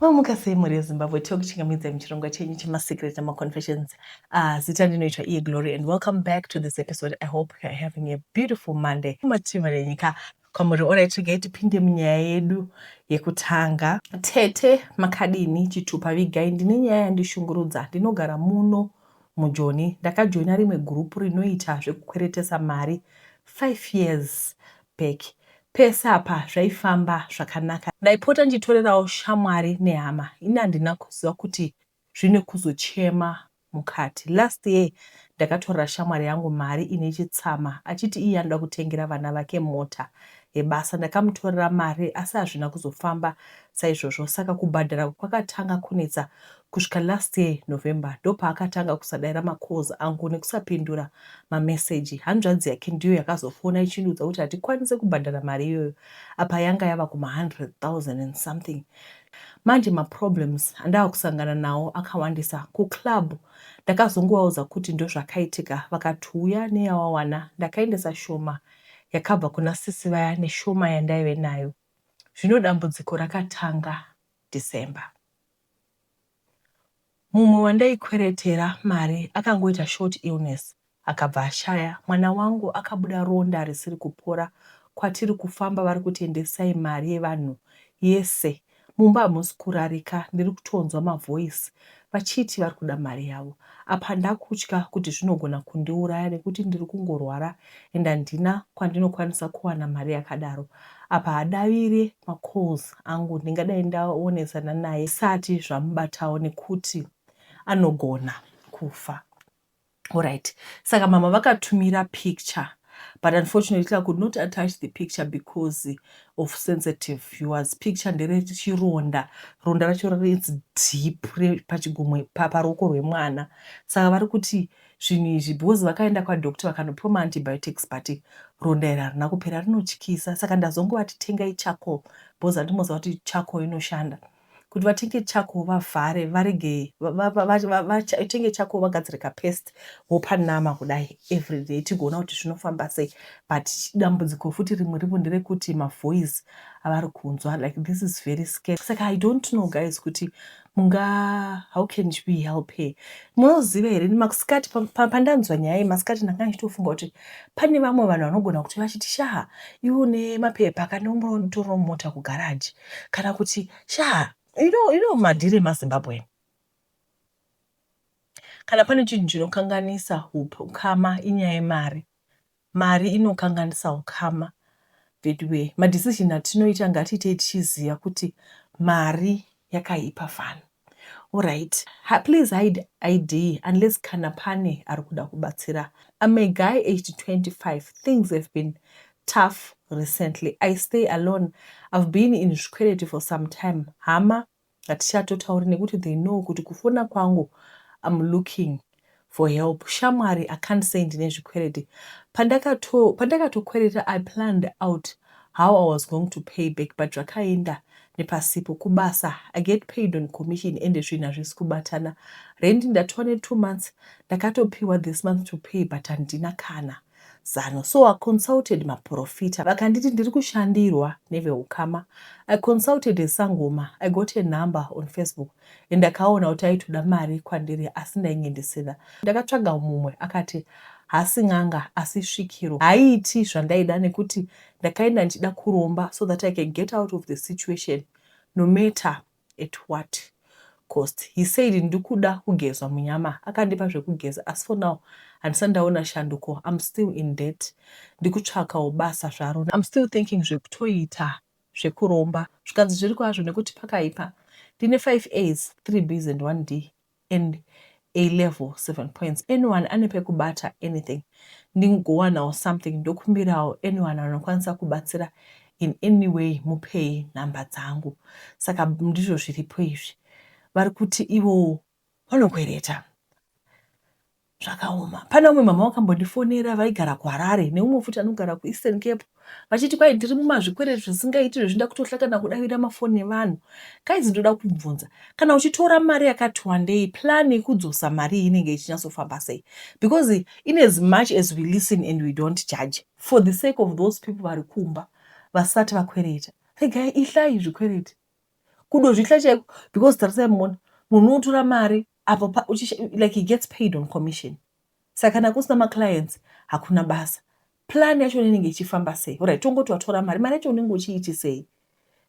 Mamuka sei mhuri yeZimbabwe tiri kuchingamidzai muchirongwa chenyu chemaSecret nemaConfessions. Uh, zita ndinoitwa iye Glory and welcome back to this episode. I hope you are having a beautiful Monday. Mativi renyika kwamuri orai tsvigai tipinde munyaya yedu yekutanga. Tete makadini chitupa vigai ndine nyaya yandishungurudza ndinogara muno mujoni ndakajoina rimwe gurupu rinoita zvekukweretesa mari 5 years back pese apa zvaifamba zvakanaka. Ndaipota ndichitorerawo shamwari nehama ini handina kuziva kuti zvine kuzochema mukati. Last year ndakatorera shamwari yangu mari ine chitsama achiti iye anoda kutengera vana vake mota yebasa. Ndakamutorera mari asi hazvina kuzofamba saizvozvo saka kubhadhara kwakatanga kunetsa Kusvika last year November ndopaakatanga kusadaira macalls angu nekusapindura mamessage. Hanzvadzi yake ndiyo yakazofona ichindiudza kuti hatikwanise kubhadhara mari iyoyo apa yanga yava kuma 100,000 and something. Manje maproblems andava kusangana nawo akawandisa. Kuclub ndakazongovaudza kuti ndozvakaitika vakati huya neyawawana. Ndakaendesa shoma yakabva kuna sisi vaya neshoma yandaive nayo. Zvino dambudziko rakatanga December. Mumwe wandaikweretera mari akangoita short illness akabva ashaya mwana wangu akabuda ronda risiri kupora kwatiri kufamba vari kuti endesai mari yevanhu yese mumba hamusi kurarika ndiri kutonzwa mavoice vachiti vari kuda mari yavo apa ndakutya kuti zvinogona kundiuraya nekuti ndiri kungorwara and handina kwandinokwanisa kuwana mari yakadaro apa hadavire macalls angu ndingadai ndaonesana naye zvisati zvamubatawo nekuti anogona kufa orit saka mama vakatumira picture but unfortunately i could not attach the picture because of sensitive viewers picture nderechironda ronda racho its deep pachigumwe paruoko rwemwana saka vari kuti zvinhu izvi because vakaenda kwadoctor vakanopiwa maantibiotics but ronda iri harina kupera rinotyisa saka ndazongovati tengai charcoal because andimoziva kuti charcoal inoshanda kuti vatenge charcoal vavhare varege vatenge charcoal vagadzire kapest vopa nama kudai everyday tigoona kuti zvinofamba sei but dambudziko futi rimwe ripo nderekuti mavoice avari kunzwa like this is very scary saka i don't know guys kuti Munga how can we help her? Munoziva here ini masikati pandanzwa nyaya iyi masikati ndanga ndichitofunga kuti pane vamwe vanhu vanogona kuti vachiti shaha iwe une mapepa kana umbotoro mota kugaraji kana kuti shaha you know, you know madhiri emazimbabwe kana pane chinhu chinokanganisa ukama inyaya yemari Mari inokanganisa ukama veduwee. Ma decision atinoita ngatiitei tichiziva kuti mari yakaipa fani. Horyt please hide ID unless kana pane ari kuda kubatsira. I'm a guy aged 25 things have been tough recently. I stay alone I've been in zvikwereti for some time hama Hatichatotauri nekuti they know kuti kufona kwangu I'm looking for help shamwari I can't say ndine zvikwereti pandakato pandakatokwereta I planned out how I was going to pay back but zvakaenda nepasipo kubasa I get paid on commission ende zvinhu hazvisi kubatana rent ndatowa ne two months ndakatopiwa this month to pay but handina kana Zano. So I consulted maporofita vakanditi ndiri kushandirwa neveukama. I consulted a sangoma, I got a number on Facebook and ndakaona kuti aitoda mari kwandiri asi ndainge ndisina. Ndakatsvaga mumwe akati hasi n'anga asi svikiro haiiti zvandaida nekuti ndakaenda ndichida kuromba so that I can get out of the situation no matter At what cost? He said ndikuda kugezwa munyama akandipa zvekugeza asi for now handisati ndaona shanduko I'm still in debt ndikutsvakawo basa zvaro I'm still thinking zvekutoita zvekuromba zvikanzi zviri kwazvo nekuti pakaipa ndine five A's, three B's and one D and A level 7 points anyone ane pekubata anything ndingowanawo something ndokumbirawo anyone anokwanisa kubatsira in any way mupei nhamba dzangu saka ndizvo zviripo izvi vari kuti ivowo vanokwereta Zvakaoma. Pane vamwe mama vakambondifonera vaigara kuHarare neumwe futi anogara kuEastern Cape vachiti kwai ndiri mumazvikwereti zvisingaiti zvezvinda kutohlakana kudavira mafoni evanhu. Guys ndoda kubvunza kana uchitora mari yakati wandei plan yekudzosa mari iyi inenge ichinyatsofamba sei because in as much as we listen and we don't judge for the sake of those people vari kumba vasati vakwereta regai ihlai zvikwereti kudozvihla chaiko because tarisai mona munhu unotora mari apo like he gets paid on commission saka kana kusina maclients hakuna basa plan yacho inenge ichifamba sei orit tongoti watora mari mari yacho unenge uchiiti sei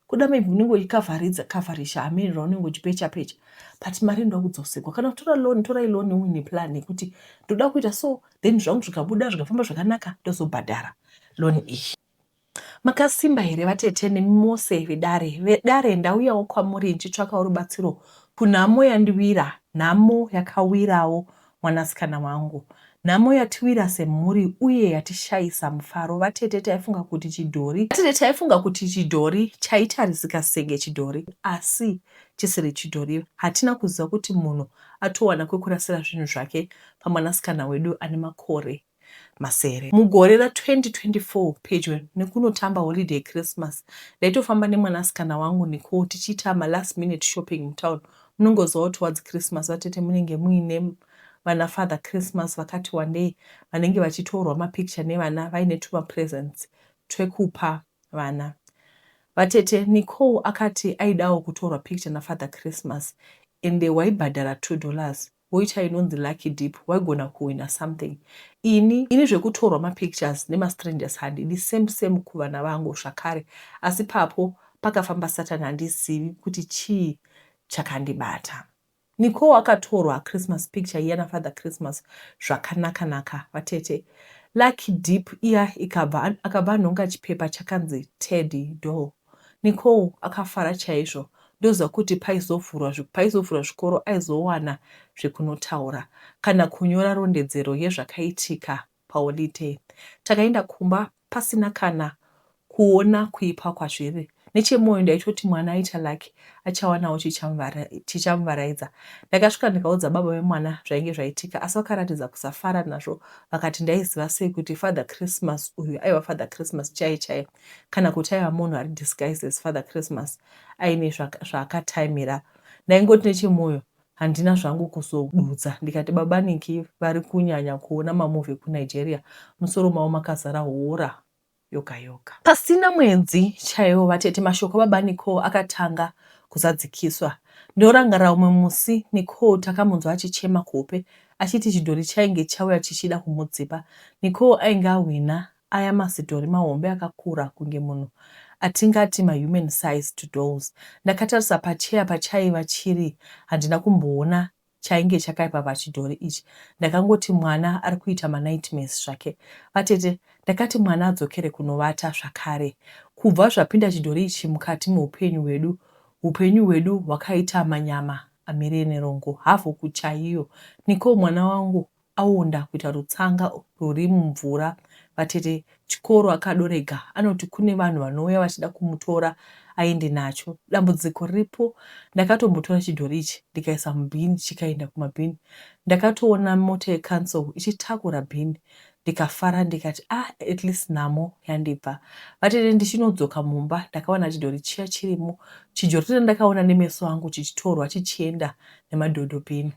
kuda maybe unenge uchikavharidza kavharisha hamiri raunenge uchipecha pecha but mari inoda kudzosekwa kana kutora loni torai loni uine plan yekuti ndoda kuita so then zvangu zvikabuda zvikafamba zvakanaka ndozobhadhara loni iyi Makasimba here vatete nemi mose vedare vedare ndauyawo kwamuri ndichitsvakawo rubatsiro kunhamo yandiwira nhamo yakawirawo mwanasikana wangu nhamo yatiwira semhuri uye yatishayisa mufaro vatete taifunga kuti chidhori vatete taifunga kuti chidhori chaitarisika senge chidhori asi chisiri chidhori hatina kuziva kuti munhu atowana kwekurasira zvinhu zvake pamwanasikana wedu ane makore masere. Mugore ra 2024 pedyo nekunotamba holiday yeChristmas ndaitofamba nemwanasikana wangu Nicole tichiita ma last minute shopping mutown. Munongoziva kuti wadzi Christmas vatete munenge muine vana father Christmas vakati wandei vanenge vachitorwa mapicture nevana vaine tuma presents twekupa vana. Vatete Nicole akati aidawo kutorwa picture nafather Christmas ende waibhadhara two dollars. woita inonzi lucky dip waigona kuwina something ini ini zvekutorwa mapictures nemastrangers handidi same same kuvana vangu zvakare asi papo pakafamba satan handizivi kuti chii chakandibata Nicole akatorwa Christmas picture iya naFather Christmas zvakanaka naka vatete Lucky Deep iya ikabva akabva anhonga chipepa chakanzi Teddy Doll Nicole akafara chaizvo ndoziva kuti paizovhurwa paizovhurwa zvikoro aizowana zvekunotaura kana kunyora rondedzero yezvakaitika paholiday. Takaenda kumba pasina kana kuona kuipa kwazviri. Nechemoyo ndaitoti mwana aita lucky achawanawo chichamuvaraidza. Ndakasvika ndikaudza baba vemwana zvainge zvaitika asi vakaratidza kusafara nazvo vakati ndaiziva sei kuti Father Christmas uyu aiva Father Christmas chaiye chaiye. kana kuti aiva munhu ari disguised as father christmas aine zvaakataimira ndaingoti nechemwoyo handina zvangu kuzodudza ndikati baba niki vari kunyanya kuona mamovhi kunigeria musoro mavo makazara hora yoga yoga pasina mwedzi chaiwo vatete mashoko baba nicol akatanga kuzadzikiswa ndorangarira umwe musi nicol takamunzwa achichema kuhope achiti chidhori chainge chauya chichida kumudzipa nicol ainge ahwina Aya masidhori mahombe akakura kunge munhu atingati mahuman sized dolls. Ndakatarisa pachair pachaiva chiri handina kumboona chainge chakaipa pachidhori ichi. Ndakangoti mwana ari kuita manightmares zvake. Vatete, ndakati mwana adzokere kunovata zvakare. Kubva zvapinda chidhori ichi mukati meupenyu hwedu, hupenyu hwedu hwakaita manyama amire nerongo havhuku chaiyo. Nicole mwana wangu aonda kuita rutsanga ruri mumvura vatete chikoro akadorega anoti kune vanhu vanouya vachida kumutora aende nacho dambudziko riripo ndakatombotora chidhori ichi ndikaisa mubhini chikaenda kumabhini ndakatoona mota yecancel ichitakura bhini ndikafara ndikati ah at least nhamo yandibva vatete ndichinodzoka mumba ndakawana chidhori chiya chirimo chidhori randakaona nemeso angu chichitorwa chichienda nemadhodho bhini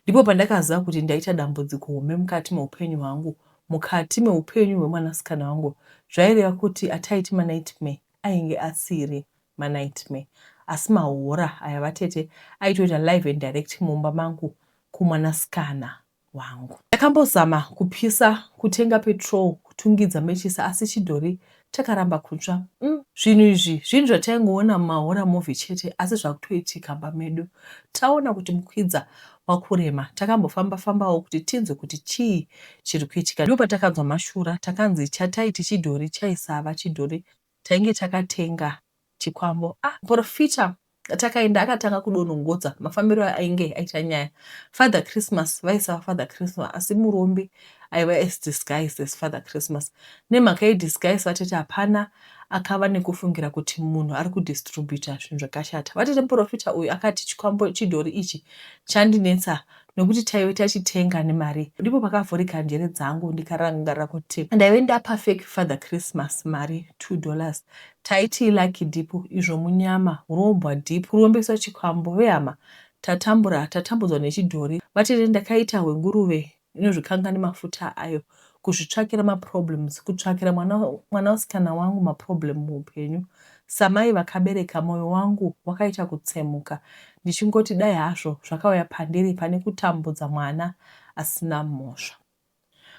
Ndipo pandakaziva kuti ndaita dambudziko hombe mukati meupenyu hwangu, mukati meupenyu hwemwanasikana wangu. Zvaireva kuti ataiti manightmare ainge asiri manightmare asi mahora aya vatete aitoita live and direct mumba mangu kumwanasikana wangu. Ndakambozama kupisa, kutenga petrol, kutungidza matches asi chidhori Takaramba kutsva. Umm zvinhu izvi zvinhu zvataingoona mumahorror movie chete asi zvakutoitika mumba medu. Taona kuti mukwidza wakurema takambofamba fambawo kuti tinzwe kuti chii chiri kuitika ndopatakanzwa mashura takanzi chatai tichidhori chaisava chidhori tainge takatenga Chikwambo ah porofita takaenda akatanga kudonongodza mafambiro ainge aita nyaya father christmas vaisava father christmas asi murombe aiva as disguised as father christmas nemhaka yedisguise vatete hapana akava nekufungira kuti munhu ari kudistributa zvinhu zvakashata vatete muporofita uyu akati chikwambo chidhori ichi chandinetsa nekuti taive tachitenga nemari ndipo pakavhurika njere dzangu ndikarangarira kuti ndaive ndapa fake father christmas mari two dollars taiti lucky dip izvo munyama hurombwa dip kurombeswa chikwambo vehama tatambura tatambudzwa nechidhori vatete ndakaita hwenguruve inozvikanga nemafuta ayo kuzvitsvakira maproblems kutsvakira mwana mwanasikana wangu maproblem muupenyu samai vakabereka moyo wangu wakaita kutsemuka ndichingoti dai hazvo zvakauya pandiri pane kutambudza mwana asina mhosva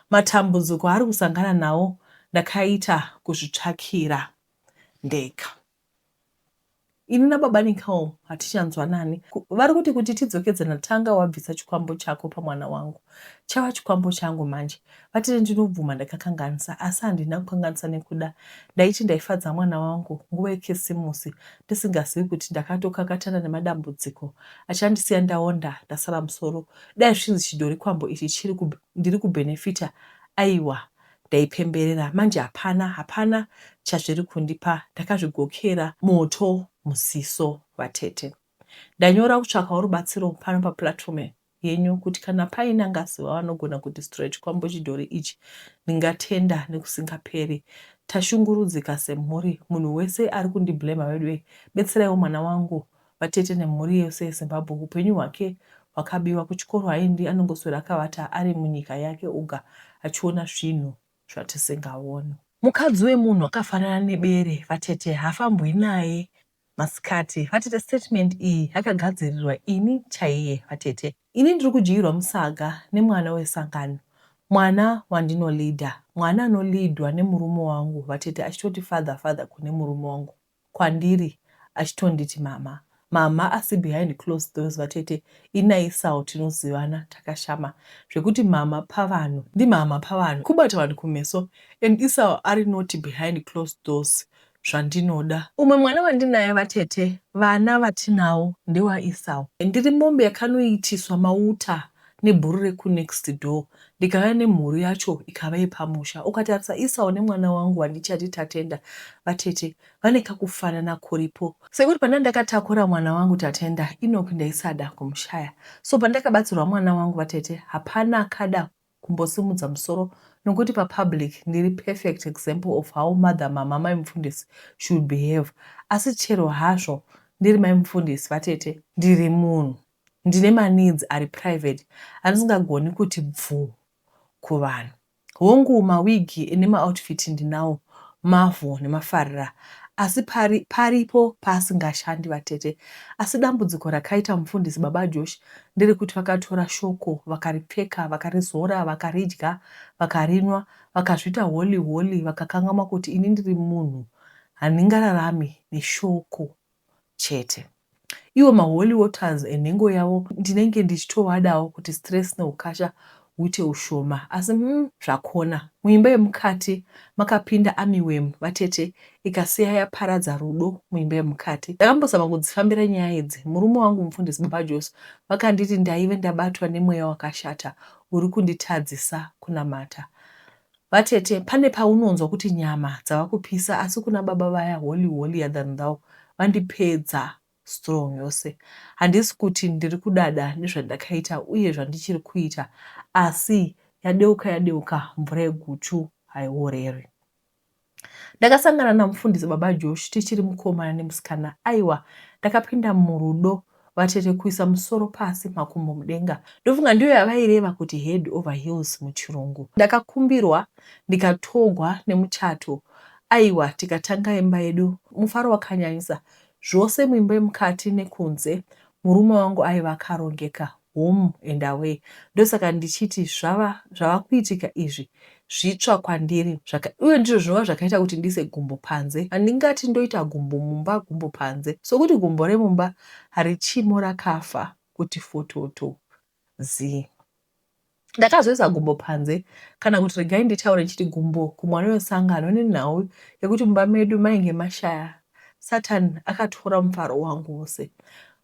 matambudziko aari kusangana nawo ndakaita kuzvitsvakira ndega Ini nababa Nicole hatichanzwanani. Vari kuti kuti tidzokedzana tanga wabvisa chikwambo chako pamwana wangu. Chava chikwambo changu manje. Vatete ndinobvuma ndakakanganisa asi handina kukanganisa nekuda. Ndaiti ndaifadza mwana wangu nguva yekisimusi ndisingazivi kuti ndakatokakatana nemadambudziko achandisiya ndaonda ndasara musoro. Dai zvichinzi chidhori kwambo ichi chiri ndiri kubenefita aiwa. ndaipemberera manje hapana hapana chazviri kundipa ndakazvigokera moto muziso vatete ndanyora kutsvakawo rubatsiro pano paplatform yenyu kuti kana paine angaziva vanogona kudestroya chikwambo chidhori ichi ndingatenda nekusingaperi tashungurudzika semhuri munhu wese ari kundiblema veduwe betseraiwo mwana wangu Vatete nemhuri yose yeZimbabwe hupenyu hwake hwakabiwa kuchikoro haendi anongoswera akavata ari munyika yake oga achiona zvinhu zvatisingaoni. Mukadzi wemunhu akafanana nebere vatete haafambwi naye masikati vatete statement iyi yakagadzirirwa ini chaiye vatete ini ndiri kudyirwa musaga nemwana wesangano mwana wandinoleader mwana anoleadwa nemurume wangu vatete achitoti father father kune murume wangu kwandiri achitonditi mhamha mhamha asi behind closed doors vatete inaisawo tinozivana takashama zvekuti mhamha pavanhu ndimhamha pavanhu kubata vanhu kumeso and isawo ari naughty behind closed doors zvandinoda. Umwe mwana wandinaye vatete vana vatinawo ndewaIsawo. Ndiri mombe yakanoitiswa mauta nebhuru reku next door ndikauya nemhuru yacho ikava yepamusha ukatarisa Esau nemwana wangu wandichati Tatenda vatete vane kakufanana kuripo sekuti pandandakatakura mwana wangu Tatenda Enock ndaisada kumushaya so pandakabatsirwa mwana wangu vatete hapana akada kumbosimudza musoro nokuti papublic ndiri perfect example of how mother mama mai mufundisi should behave asi chero hazvo ndiri mai mufundisi vatete ndiri munhu Ndine maneeds ari private andisingagoni kuti bvuu kuvanhu. Hongu mawig nemauoutfit ndinawo mavhu nemafarira asi pari paripo paasingashandi vatete. Asi dambudziko rakaita Mufundisi Baba Josh nderekuti vakatora shoko vakaripfeka, vakarizora, vakaridya, vakarinwa, vakazviita holy holy vakakangamwa kuti ini ndiri munhu handingararami neshoko. chete. Iwo maholy waters enhengo yavo ndinenge ndichitovadawo kuti stress nehukasha huite hushoma asi umm zvakona. Muimba yemukati makapinda amiwem vatete ikasiya yaparadza rudo muimba yemukati. Ndakambozama kudzifambira nyaya idzi murume wangu mufundisi baba Joso vakanditi ndaive ndabatwa nemweya wakashata uri kunditadzisa kunamata. Vatete pane paunonzwa kuti nyama dzava kupisa asi kuna baba vaya holy holier than thou vandipedza strong yose. Handisi kuti ndiri kudada nezvandakaita uye zvandichiri kuita asi yadeuka yadeuka mvura yeguchu haioreri. Ndakasangana namufundisi baba Josh tichiri mukomana nemusikana aiwa ndakapinda murudo vatete kuisa musoro pasi makumbo mudenga ndofunga ndiyo yavaireva kuti head over heels muchirungu. Ndakakumbirwa ndikatogwa nemuchato aiwa tikatanga imba yedu mufaro wakanyanyisa zvose muimba yemukati nekunze murume wangu aiva akarongeka home and away ndosaka ndichiti zvava zvava kuitika izvi zvitsva kwandiri zvaka, uye ndizvo zvinova zvakaita kuti ndiise gumbo panze. Handingati ndoita gumbo mumba, gumbo panze, sokuti gumbo remumba harichimo, rakafa kuti fototo zii. Ndakazoisa gumbo panze, kana kuti regai nditaure ndichiti gumbo kumwana wesangano, nenhau yekuti mumba medu mainge mashaya. Satani akatora mufaro wangu wose.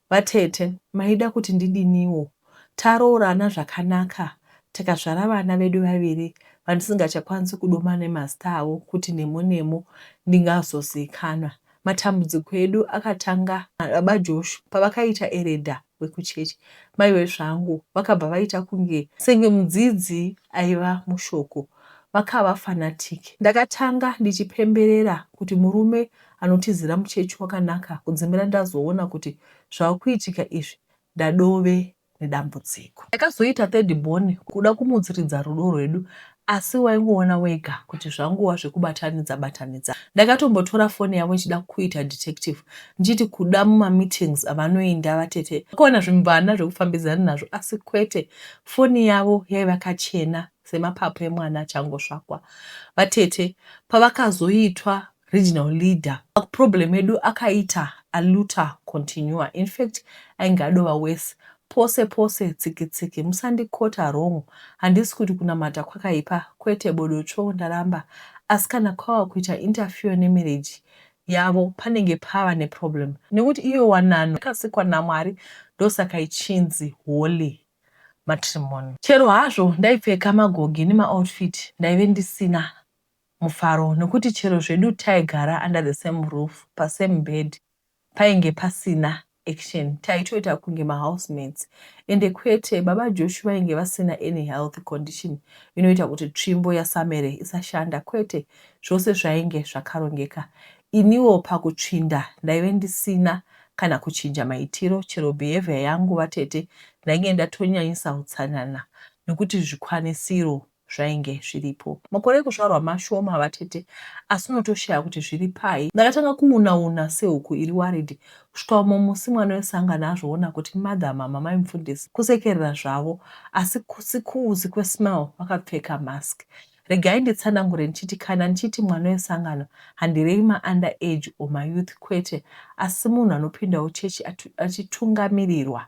Vatete maida kuti ndidiniwo taroorana zvakanaka tikazvara vana vedu vaviri vandisingachakwanisi kudoma nemazita avo kuti nemo nemo ndingazoziikanwa. Matambudziko edu akatanga nababa Josh pavakaita eredha wekuchechi. Mai wezvangu vakabva vaita kunge senge mudzidzi aiva mushoko vakava fanatiki. Ndakatanga ndichipemberera kuti murume anotizira muchechi wakanaka kudzimira ndazoona kuti zvakuitika izvi ndadove nedambudziko. Ndakazoita third born kuda kumudziridza rudo rwedu asi waingoona wega kuti zvangova zvekubatanidza batanidza. Ndakatombotora foni yavo ndichida kuita detective ndichiti kuda mumameetings avanoenda vatete vakawana zvimvana zvekufambidzana nazvo asi kwete, foni yavo yaiva kachena semapapu emwana achangosvakwa. Vatete pavakazoitwa regional leader problem edu akaita aluta continua infact ainge adova worse pose pose tsikitsiki musandikota wrong handisi kuti kunamata kwakaipa kwete bodo tsvoo ndaramba asi kana kwava kuita interfere nemarriage yavo panenge pava neproblem nekuti iyo wanano yakasikwa naMwari ndosaka ichinzi holy matrimony chero hazvo ndaipfeka magogi nemaoutfit ndaive ndisina mufaro nokuti chero zvedu taigara under the same roof pasame bed painge pasina action taitoita kunge mahousemates ende kwete baba Josh vainge vasina any health condition inoita kuti tsvimbo yaSamere isashanda kwete zvose zvainge zvakarongeka iniwo pakutsvinda ndaive ndisina kana kuchinja maitiro chero behavior yangu vatete ndainge ndatonyanyisa utsanana nokuti zvikwanisiro zvainge zviripo. Makore ekuzvarwa mashoma vatete asi unotoshaya kuti zviri pai. Ndakatanga kuuna una sehuku iri worried kusvika umwe musi mwana wesangano azviona kuti mother mama mai mufundisi kusekerera zvavo asi kusi kuuzi kwesmell vakapfeka mask. Regai nditsanangure ndichiti kana ndichiti mwana wesangano handirevi maUnder age or maYouth kwete asi munhu anopindawo chechi achitungamirirwa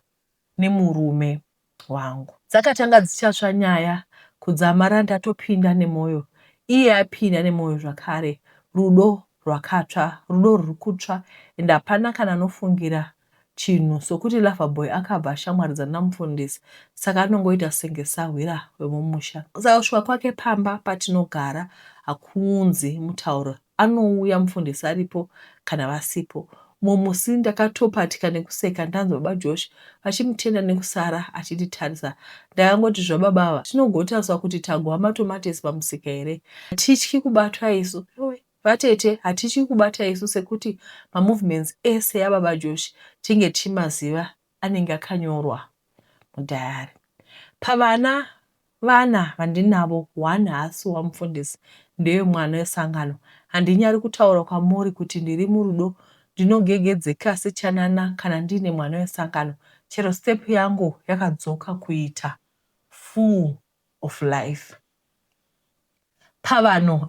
nemurume wangu. Dzakatanga dzichatsva nyaya kudzamara ndatopinda nemoyo iye apinda nemoyo zvakare rudo rwakatsva rudo ruri kutsva and hapana kana anofungira chinhu sokuti lover boy akabva ashamwaridzana namufundisi saka anongoita senge sahwira wemumusha saka kusvika kwake pamba patinogara hakuunzi mutauro anouya mufundisi aripo kana vasipo. Mumwe musi ndakatopatika nekuseka ndanzwa baba Josh vachimutenda nekusara achititarisa. Ndakangoti zvababa ava zvinogotaswa kuti tagova matomatesi pamusika here. Hatityi kubatwa isu. Yowe. Vatete hatityi kubata isu sekuti mamovements ese ababa Josh tinge tichimaziva anenge akanyorwa mudhayari. Pavana vana vandinavo, one haasi wamufundisi, ndewemwana wesangano. Handinyari kutaura kwamuri kuti ndiri murudo, ndinogegedzeka sechanana kana ndiine mwana wesangano, chero step yangu yakadzoka kuita full of life pavanhu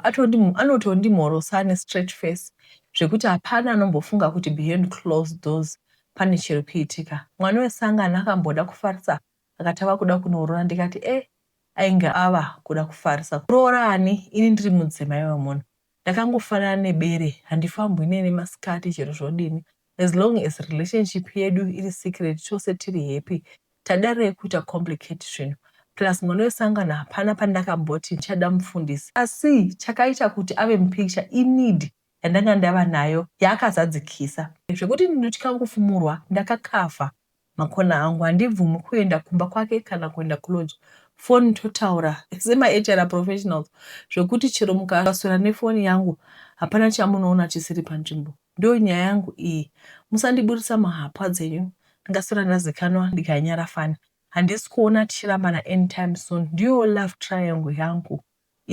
anotondimhorosa ane straight face zvekuti hapana anombofunga kuti beyond closed doors pane chiri kuitika. Mwana wesangano akamboda kufarisa akati ava kuda kunoroora ndikati eh ainge ava kuda kufarisa. Kuroora ani ini ndiri mudzimai wemunhu. Ndakangofanana nebere handifambwi neni masikati chero zvodini as long as relationship yedu iri secret tose tiri happy tadarei kuita complicate zvinhu plus mwana wesangano hapana pandakamboti ndichada mufundisi asi chakaita kuti ave mupicture ineed yandanga ndava nayo yaakazadzikisa zvekuti ndinotya kufumurwa ndakakavha Makona hangu handibvumi kuenda kumba kwake kana kuenda kulodge foni totaura sema HR professionals zvekuti chero mukaswera nefoni yangu hapana chamunoona chisiri panzvimbo ndiyo nyaya yangu iyi musandiburitsa muhapwa dzenyu ndingaswera ndazikanwa ndikanyara fani handisi kuona tichirambana anytime soon ndiyo love triangle yangu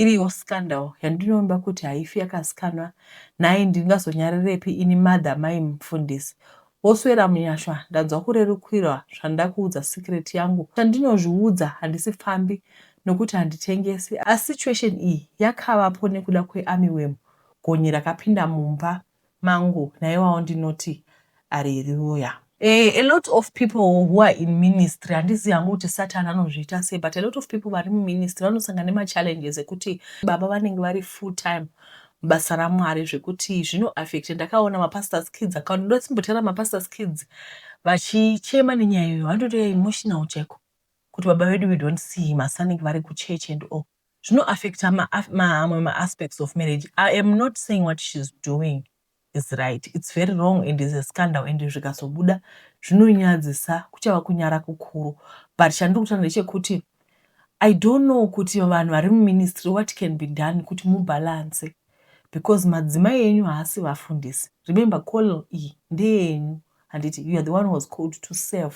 Iriyo scandal yandinoimba kuti haifi yakazikanwa nhai ndingazonyarirepi ini mother mai mufundisi woswera munyasha ndanzwa kurerukirwa zvandakuudza secret yangu chandinozviudza handisi pfambi nokuti handitengesi asi situation iyi yakavapo nekuda kwearmy worm gonye rakapinda mumba mangu naiwawo ndinoti Areruya. Eeh a lot of people who are in ministry handizivi hangu kuti Satan anozviita sei but a lot of people vari muministry vanosangana nema challenges ekuti baba vanenge vari full time basa raMwari zvekuti zvino affect ndakaona ma pastors kids akaona ndoda kusimbotaura ma pastors kids vachichema nenyaya iyo vanotoita emotional chaiko kuti baba vedu we don't see him asi vanenge vari kuchurch and all zvino affecta mamwe ma aspects of marriage i am not saying what she's doing is right it's very wrong and is a scandal and zvikazobuda zvinonyadzisa kuchava kunyara kukuru but chandiri kutaura ndechekuti i don't know kuti vanhu vari muministry what can be done kuti mubalance because madzimai enyu haasi vafundisi remember call iyi ndeyenyu handiti you are the one was called to serve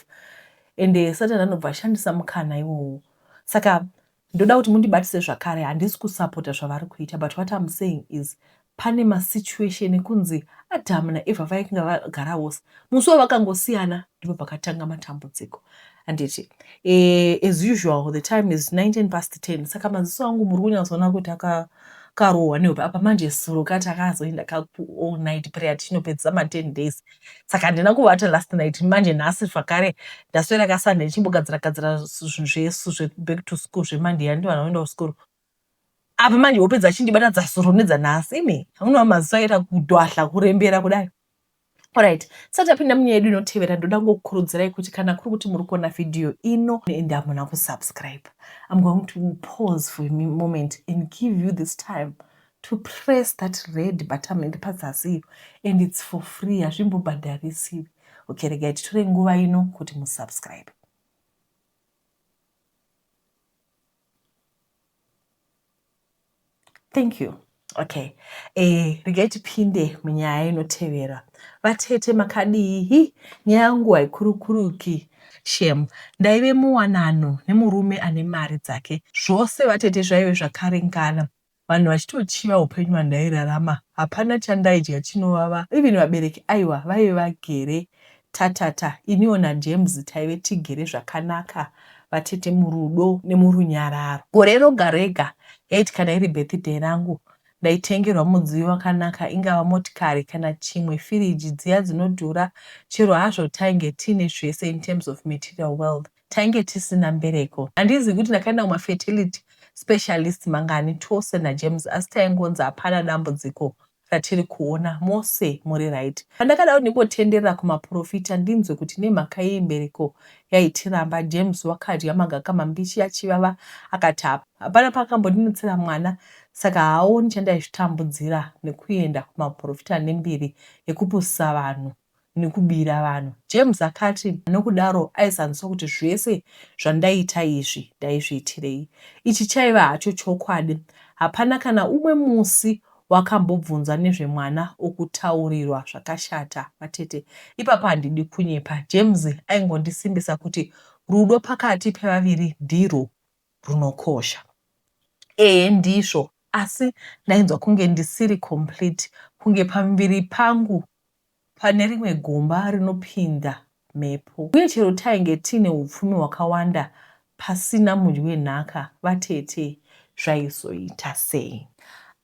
and eh, satani anobva ashandisa mukana iwowo saka Ndoda kuti mundibatise zvakare handisi kusapota zvavari kuita but what I'm saying is pane masituation ekunzi Adam naEva vaikinga vagara vose musi wavakangosiyana ndipo pakatanga matambudziko handiti eh, as usual the time is 19 past 10 saka maziso angu muri kunyatsoona kuti akarohwa nehope apa manje suro kati akazoenda kaku all night prayer tichinopedzisa ma 10 days saka handina kuvata last night manje nhasi zvakare ndaswera kasunday ndichimbogadzira gadzira zvinhu zvesu zveback to school zvemonday yandi vana vaenda kuskuru apa manje hope dzachindibata dzasoro nedzanhasi imi unova maziso aita kudwahla kurembera kudai Alright, so tapinda munyaya yedu inotevera ndoda ngokukurudzirai kuti kana kuri kuti muri kuona vhidhiyo ino and hamuna kusubscribe I'm going to pause for a moment and give you this time To press that red buttom iri pazasi iyo and it's for free hazvimbobhadharisiwi. Okay regai titore nguva ino kuti musubscribe. Thank you. Okay. Eh, regai tipinde munyaya inotevera. Vatete makadii? Nyaya yangu haikurukuruki. Shem, ndaive muwanano nemurume ane mari dzake. Zvose vatete zvaive zvakaringana. Vanhu vachitochiva hupenyu hwandairarama hapana chandaidya chinovava even vabereki aiwa vaive vagere tatata iniwo naJames taive tigere zvakanaka vatete murudo nemurunyararo. Gore roga rega yaiti kana iri birthday rangu ndaitengerwa mudziyo wakanaka ingava motikari kana chimwe firiji dziya dzinodhura chero hazvo tainge tiine zvese in terms of material wealth Tainge tisina mbereko. Handizivi kuti ndakaenda kuma fertility specialist mangani tose naJames asi taingonzi hapana dambudziko ratiri kuona. Mose muri right. Pandakada kundimbotenderera kumaporofita ndinzwe kuti nemhaka yei mbereko yaitiramba, James wakadya magaka mambishi achivava akati hapana paakambondinotsera mwana saka haaoni chandaizvitambudzira nekuenda kumaporofita nembiri yekupusa vanhu. nekubira vanhu. James akati, Nokudaro aizanzwa kuti zvese zvandaita izvi ndaizviitirei. Ichi chaiva hacho chokwadi. Hapana kana umwe musi wakambobvunza nezvemwana okutaurirwa zvakashata vatete. Ipapo handidi kunyepa, James aingondisimbisa kuti rudo pakati pevaviri ndirwo. runokosha. Ehe ndizvo asi ndainzwa kunge ndisiri complete kunge pamuviri pangu pane rimwe gomba rinopinda mhepo uye chero tainge tiine upfumi hwakawanda pasina mudyi wenhaka vatete zvaizoita sei.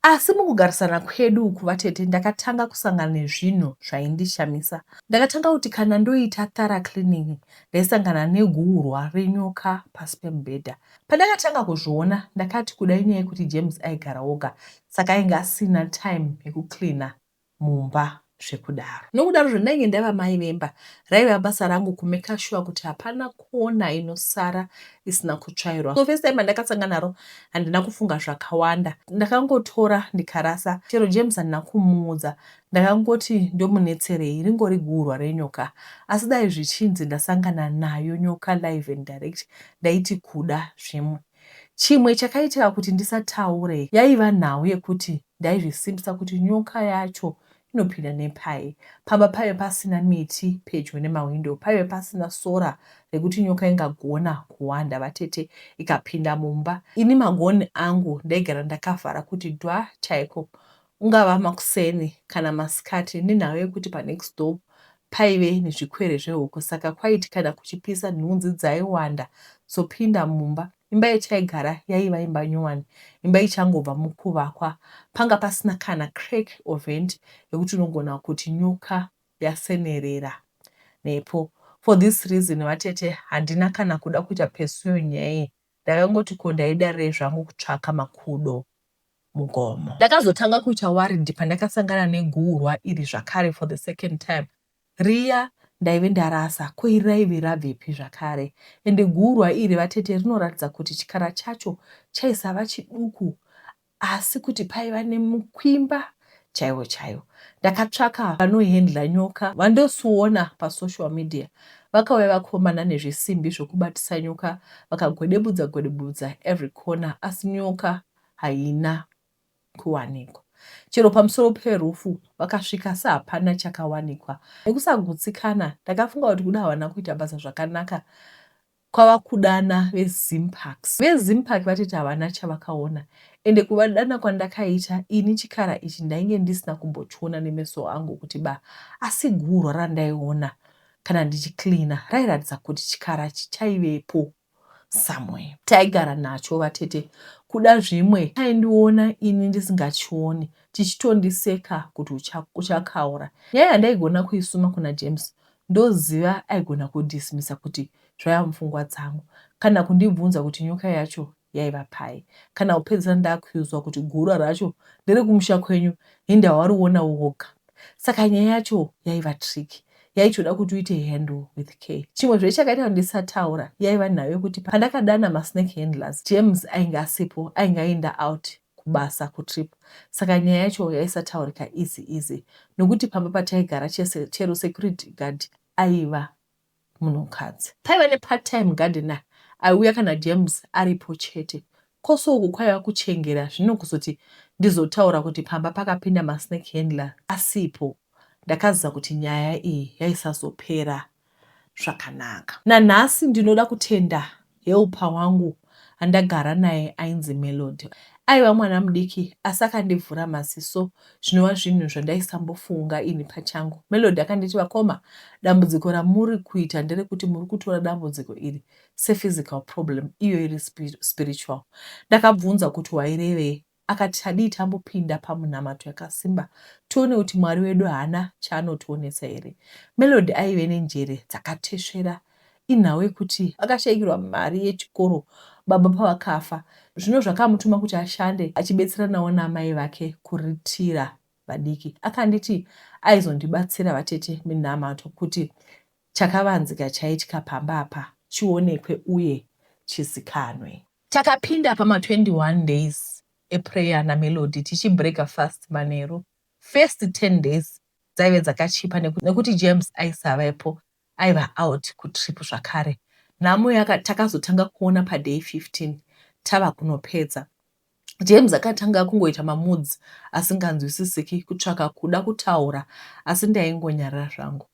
Asi mukugarisana kwedu uku vatete ndakatanga kusangana nezvinhu zvaindishamisa. Ndakatanga kuti kana ndoita thorough cleaning ndaisangana neguhurwa renyoka pasi pemubhedha. Pandakatanga kuzviona ndakati kuda inyaya yekuti James aigara oga saka ainge asina time yekucleaner mumba zvekudaro. Nokudarozve ndainge ndava mai vemba raiva basa rangu kumaker sure kuti hapana kona inosara isina kutsvairwa. So first time andakasanga naro handina kufunga zvakawanda ndakangotora ndikarasa chero James handina kumuudza Ndakangoti ndomunetserei ringori guhurwa renyoka asi dai zvichinzi ndasangana nayo nyoka live and direct ndaiti kuda zvimwe. Chimwe chakaitika kuti ndisataure yaiva nhau yekuti ndaizvisimbisa kuti nyoka yacho inopinda nepai. Pamba paive pasina miti pedyo nemahwindo paive pasina sora rekuti nyoka ingagona kuhwanda vatete ikapinda mumba. Ini magoni angu ndaigara ndakavhara kuti dwa chaiko Kungava makuseni kana masikati nenhau yekuti panext door paive nezvikwere zvehuku saka kwaiti kana kuchipisa nhunzi dzaiwanda dzopinda mumba. Imba yataigara yaiva imba nyowani, imba ichangobva mukuvakwa. Panga pasina kana crack or vent yekuti unogona kuti nyoka yasenerera nepo. For this reason vatete handina kana kuda kuita pursue nyaya iyi ndakangoti ko ndaidarirei zvangu kutsvaka makudo mugomo. Ndakazotanga kuita worried pandakasangana neguhurwa iri zvakare for the second time. Riya ndaive ndarasa ko iri raive rabvepi zvakare ende guhurwa iri vatete rinoratidza kuti chikara chacho chaisava chiduku asi kuti paiva nemukwimba chaiwo chaiwo ndakatsvaka vanohendla nyoka vandosiona pasocial media vakauya vakomana nezvisimbi zvokubatisa nyoka vakagwedebudza gwedebudza every corner asi nyoka haina kuwanikwa chero pamusoro perufu vakasvika asi hapana chakawanikwa nekusagutsikana ndakafunga kuti kuda havana kuita basa zvakanaka Kwava kudana veZimparks. VeZimpark vatiti havana chavakaona ende kuvadana kwandakaita ini chikara ichi ndainge ndisina kumbochiona nemeso angu kuti ba asi gurwa randaiona kana ndichicleaner rairatidza kuti chikara ichi chaivepo somewhere. Taigara nacho vatete kuda zvimwe chaindiona ini ndisingachioni chichitondiseka kuti uchakaura. Nyaya yandaigona kuisuma kuna James Ndoziva aigona kudismissa kuti zvaiva mupfungwa dzangu kana kundibvunza kuti nyoka yacho yaiva pai kana kupedzisira ndakuiudzwa kuti gura racho nderekumusha kwenyu hinda wariona woga saka nyaya yacho yaiva tricky yaitoda kuti uite handle with care. Chimwezve chakaita kuti ndisataura yaiva nhau yekuti pandakadana masnake handlers James ainge asipo ainge aenda out kubasa kutrip saka nyaya yacho yaisataurika easy easy nokuti pamba pataigara chese chero security guard aiva munhukadzi. Paiva nepart time gardener aiuya kana James aripo chete. Kose uku kwaiva kuchengera zvino kuzoti ndizotaura kuti pamba pakapinda masnake handler asipo. Ndakaziva kuti nyaya iyi yaisazopera zvakanaka. Nanhasi ndinoda kutenda helper wangu andagara naye ainzi Melody. Aiva mwana mudiki asi akandivhura maziso zvinova zvinhu zvandaisambofunga ini pachangu. Melody akanditi vakoma dambudziko ramuri kuita nderekuti muri kutora dambudziko iri sephysical problem iyo iri spiritual. Ndakabvunza kuti wairevei Akati tadii tambopinda pamunamato yakasimba tione kuti Mwari wedu haana chaanotionesa here. Melody aive nenjere dzakatesvera inhau yekuti akashaikirwa mari yechikoro baba pavakafa zvino zvakamutuma kuti ashande achibetseranawo naamai vake kuritira vadiki. Akanditi aizondibatsira vatete minamato kuti Chakavanzika chaitika pamba apa chionekwe uye chizikanwe. Takapinda pama 21 days eprayer na Melody tichi breaker fast manheru. First 10 days dzaive dzakachipa nekuti James aisavepo aiva out kutrip zvakare. Nhamo yaka takazotanga kuona pa day 15 tava kunopedza. James akatanga kungoita mamoods asinganzwisisiki kutsvaka kuda kutaura asi ndaingonyarara zvangu.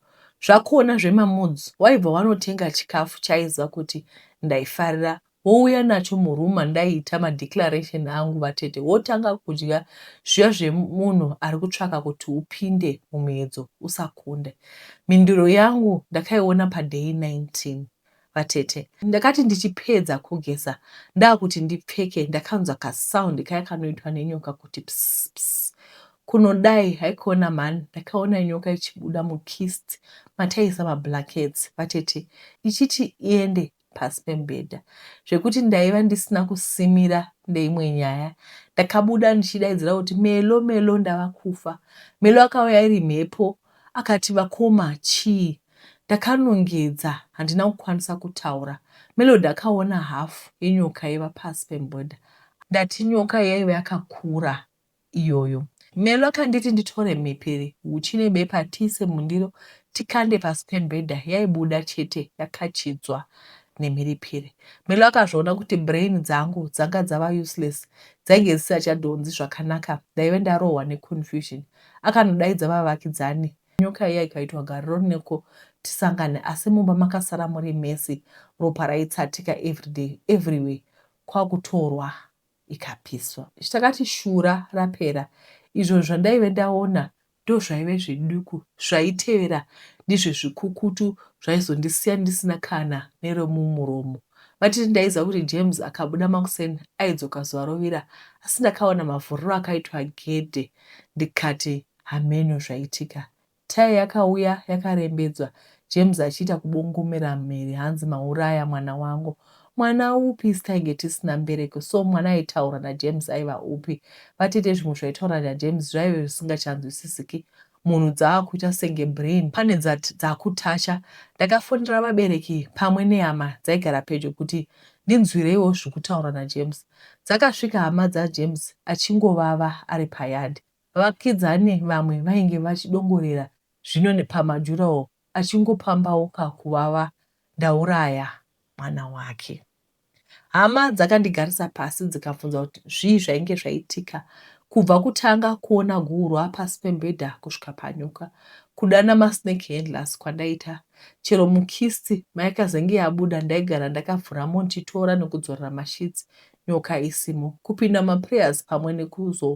Zvakuona zvemamoods waibva wanotenga chikafu chaiziva kuti ndaifarira wouya nacho muroom mandaiita madeclaration angu vatete wotanga kudya zviya zvemunhu ari kutsvaka kuti upinde mumuedzo usakunde. Mhinduro yangu ndakaiona paday 19. vatete. Ndakati ndichipedza kugeza ndakuti ndipfeke ndakanzwa kasound kaya kanoitwa nenyoka kuti pss pss kunodai haikona mhani ndakaona nyoka ichibuda mukist mataiisa mablankets vatete ichiti iende pasi pemubhedha zvekuti ndaiva ndisina kusimira ndeimwe nyaya ndakabuda ndichidaidzira kuti melo melo ndava kufa melo akauya iri mhepo Akati vakoma chii? Ndakanongedza handina kukwanisa kutaura. Melody akaona half yenyoka yaiva pasi pemubhedha. Ndati nyoka yaiva yakakura iyoyo. Melo akanditi nditore mhepere, huchi nebepa tiise mundiro tikande pasi pemubhedha yaibuda chete yakachidzwa nemhiripiri. Melo akazviona kuti brain dzangu dzanga dzava useless, dzainge dzisisachadhonzi zvakanaka ndaive ndarohwa neconfusion. Akanodaidza vavakidzani. Nyoka iya ikaitwa gariro rineko tisangane asi mumba makasara muri mese ropa raitsatika everyday everywhere kwakutorwa ikapiswa. Takati shura rapera izvo zvandaive ndaona ndozvaive zveduku zvaitevera ndizve zvikukutu zvaizondisiya ndisina kana neromumuromo. Vatiti ndaiziva kuti James akabuda makuseni aidzoka zuva rovira asi ndakaona mavhuriro akaitwa gedhe ndikati hameno zvaitika Tyre yakauya yakarembedzwa James achiita kubongomera mhere hanzi mauraya mwana wangu Mwana upi isu tainge tisina mbereko so mwana aitaurwa naJames aiva upi vatete zvimwe zvaitaurwa naJames zvaive zvisingachanzwisisiki munhu dzaakuita senge brain pane dzakutacha Ndakafonera vabereki pamwe nehama dzaigara pedyo kuti ndinzwireiwo zvikutaurwa naJames Dzakasvika hama dzaJames achingovava ari payard. Vakidzani vamwe vainge vachidongorera zvino nepamadurawall achingopambauka kuvava ndauraya mwana wake. Hama dzakandigarisa pasi dzikabvunza kuti zvii zvainge zvaitika kubva kutanga kuona guhurwa pasi pembhedha kusvika panyuka kudana masnake handlers kwandaita Chero mukist maikazenge yabuda ndaigara ndakavhura mo ndichitora nekudzorera masheets nyoka isimo. Kupinda mumaprayers pamwe nekuzo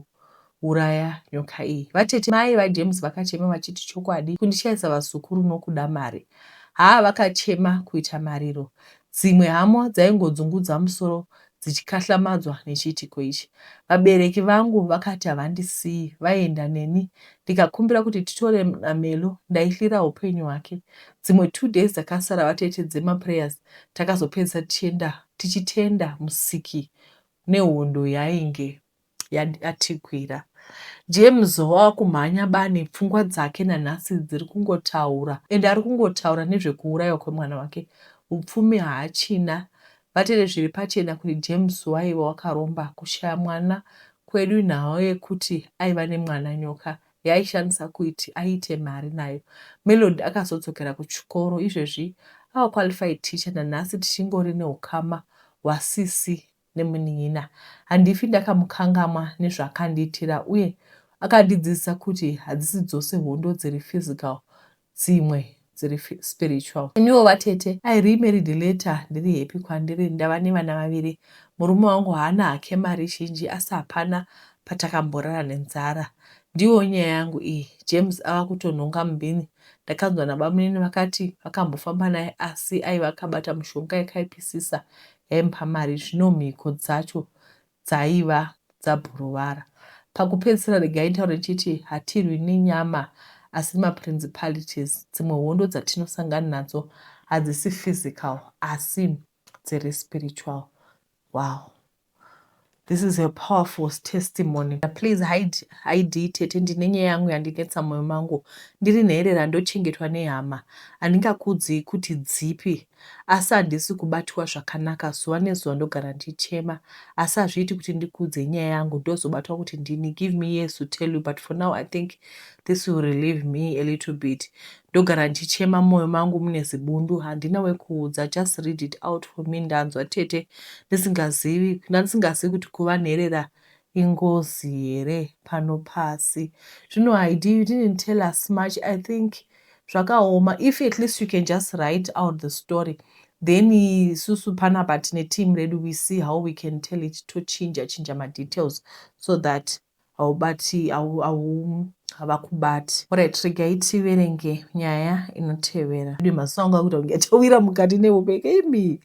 uraya nyoka iyi. Vatete mai vaJames vakachema vachiti chokwadi kundishaisa vazukuru nokuda mari. Haa vakachema kuita mariro. Dzimwe hamo dzaingodzungudza musoro dzichikahlamadzwa nechiitiko ichi. Vabereki vangu vakati havandisiyi, vaienda neni. Ndikakumbira kuti titore Melo, ndaifira hupenyu hwake. Dzimwe two days dzakasara vateetedze maprayers, takazopedzisa tichienda tichitenda Musiki nehondo yainge. yatikwira. James wava kumhanya bani, pfungwa dzake nanhasi dziri kungotaura and ari kungotaura nezvekuurayiwa kwemwana wake. Upfumi haachina. Vatete zviri pachena kuti James waiva wakaromba. Kushaya mwana kwedu inhau yekuti aiva nemwana nyoka yaaishandisa kuiti aite mari nayo. Melody akazodzokera kuchikoro. Izvezvi ava qualified teacher nanhasi tichingori neukama hwasisi nemunin'ina. Handifi ndakamukangamwa nezvaakandiitira uye akandidzidzisa kuti hadzisi dzose hondo dziri physical dzimwe dziri spiritual. Iniwo vatete I remarried later ndiri happy kwandiri ndava nevana vaviri. Murume wangu haana hake mari zhinji asi hapana patakamborara nenzara. Ndiyo nyaya yangu iyi. James ava kutonhonga mubhini ndakanzwa nabamunini vakati vakambofamba naye asi aiva akabata mushonga yakaipisisa yaimpamari zvino mhiko dzacho dzaiva dzabhurovara. Pakupedzisira regai nditaure chiti hatirwi nenyama asi maprincipalities dzimwe hondo dzatinosangana nadzo hadzisi physical asi dziri spiritual. Wow. This is a powerful testimony. Please hide, hide tete ndine nyaya yangu yandinetsa moyo mangu. Ndiri nherera ndochengetwa nehama. Handingakuudzei kuti dzipi asi handisi kubatiwa zvakanaka zuva nezuva ndogara ndichema asi hazviiti kuti ndikuudzei nyaya yangu ndozobatwa kuti ndini give me years to tell you but for now I think this will relieve me a little bit. ndogara ndichichema mumoyo mangu mune zibundu handina wekuudza just read it out for me ndanzwa tete ndisingazivi ndandisingazivi kuti kuva nherera ingozi here pano pasi zvino haidi you didn't tell us much i think zvakaoma if at least you can just write out the story then isusu panapa tine team redu we see how we can tell it tochinja chinja madetails so that haubati havakubati alright regai tiverenge nyaya inotevera ii maziso angu akuita kunge atowira mukati nehope imi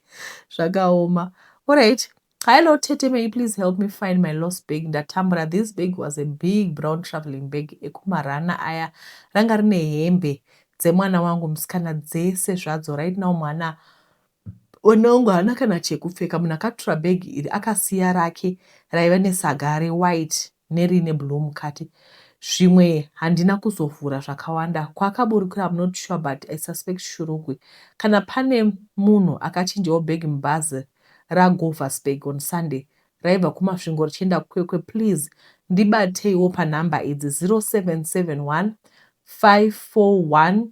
zvakaoma alright Hello, Tete, may you please help me find my lost bag? Ndatambura. This bag was a big brown traveling bag ekumarana aya. Ranga rine hembe dzemwana wangu musikana dzese zvadzo. Right now mwana One wangu haana kana chekupfeka. Munhu akatura bag iri akasiya rake raiva nesaga rewhite neriine blue mukati. Zvimwe handina kuzovhura zvakawanda. Kwaakaburukira I'm not sure but I suspect Shurugwi. Kana pane munhu akachinjawo bag mubhazi raGovasburg on Sunday raibva kuMasvingo richienda kuKwekwe please ndibateiwo panumber idzi 0771 541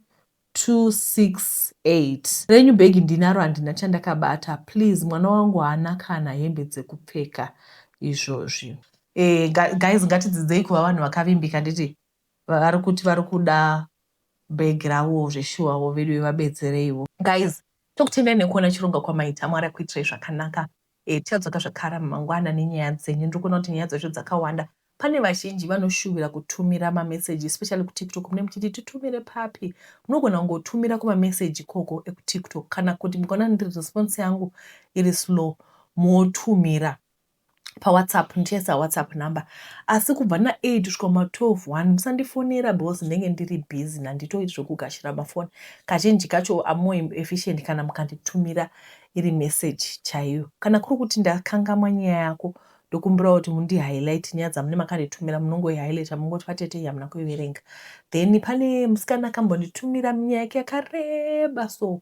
268 renyu bag ndinaro handina chandakabata please mwana wangu haana kana hembe dzekupfeka izvozvi. Eh guys ngatidzidzei kuva vanhu vakavimbika nditi vari kuti vari kuda bag ravo zveshuwa wo veduwe vabetsereiwo. Guys tokutendai nekuona chirongwa kwamaita mwari akuitirai zvakanaka Hey tichadzoka zvakara mangwana nenyaya dzenyu ndiri kuona kuti nyaya dzacho dzakawanda pane vazhinji vanoshuvira kutumira mameseji especially kutiktok mune muchiti titumire papi munogona kungotumira kumameseji ikoko ekutiktok kana kuti mukaona ndiri response yangu iri slow motumira pawhatsapp ndichaisa whatsapp number asi kubva na8 kusvika ma 12 one musandifonera because ndenge ndiri busy nanditoiti zvekugashira mafoni kazhinji kacho amore efficient kana mukanditumira iri message chaiyo. Kana kuri kuti ndakangamwa nyaya yako ndokumbirawo kuti mundi highlight nyaya dzamune makanditumira munongo highlighta mongoti vatete iyi hamuna kuiverenga then pane musikana akambonditumira nyaya yake yakareba so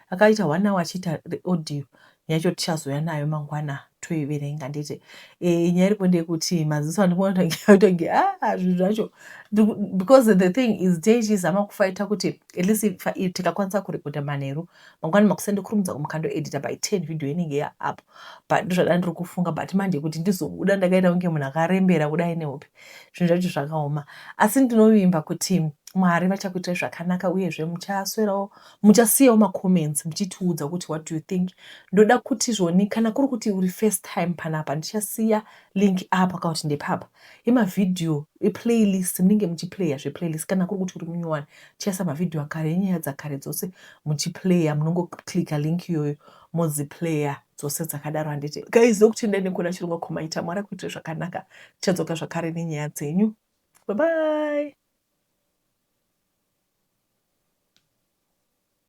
akaita one hour achiita audio nyaya yacho tichazouya nayo mangwana toiverenga nditi e, nyaya iripo ndeyekuti maziso andikuonaotange a ah, zvinhu zvacho because the thing is dei chizama kufaita kuti at least tikakwanisa kurekodha manheru mangwana makuseni ndokurumidza kumukando editor by 10 video inenge ya up but ndozvadana ndiri kufunga but manje kuti ndizobuda ndakaita kunge munhu akarembera kudai nehope zvinhu zvacho zvakaoma asi ndinovimba kuti mwari vachakuitai zvakanaka uyezve muchaswerawo muchasiyawo macomments muchitiudza kuti what do you think ndoda kuti zvoni kana kuri kuti uri first time panapa ndichasiya link apa ka kuti ndepapa yemavhidhiyo eplaylist munenge muchiplaya zveplaylist kana kuri kuti uri munyowani Chesa mavideo akare enyaya dzakare dzose muchiplayer munongoclicka link iyoyo modziplayer dzose dzakadaro handiti guys ndokutendai nekuona chirongwa komaita mwari akuitire zvakanaka tichadzoka zvakare nenyaya dzenyu bye bye